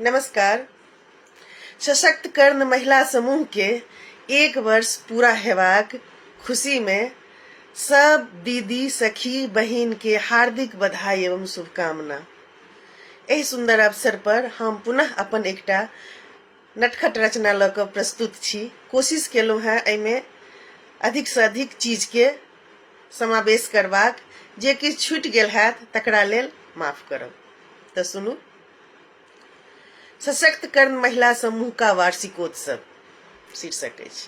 नमस्कार सशक्त कर्ण महिला समूह के एक वर्ष पूरा हेबाक खुशी में सब दीदी सखी बहिन के हार्दिक बधाई एवं शुभकामना एहि सुंदर अवसर पर हम पुनः अपन एकटा नटखट रचना लऽ कऽ प्रस्तुत छी कोशिश केलहुँ हेँ एहिमे अधिकसँ अधिक चीजके समावेश करबाक जे किछु छूटि गेल हैत तकरा लेल माफ करब तऽ सुनू सशक्तकरण महिला समूह का वार्षिकोत्सव शीर्षक अछि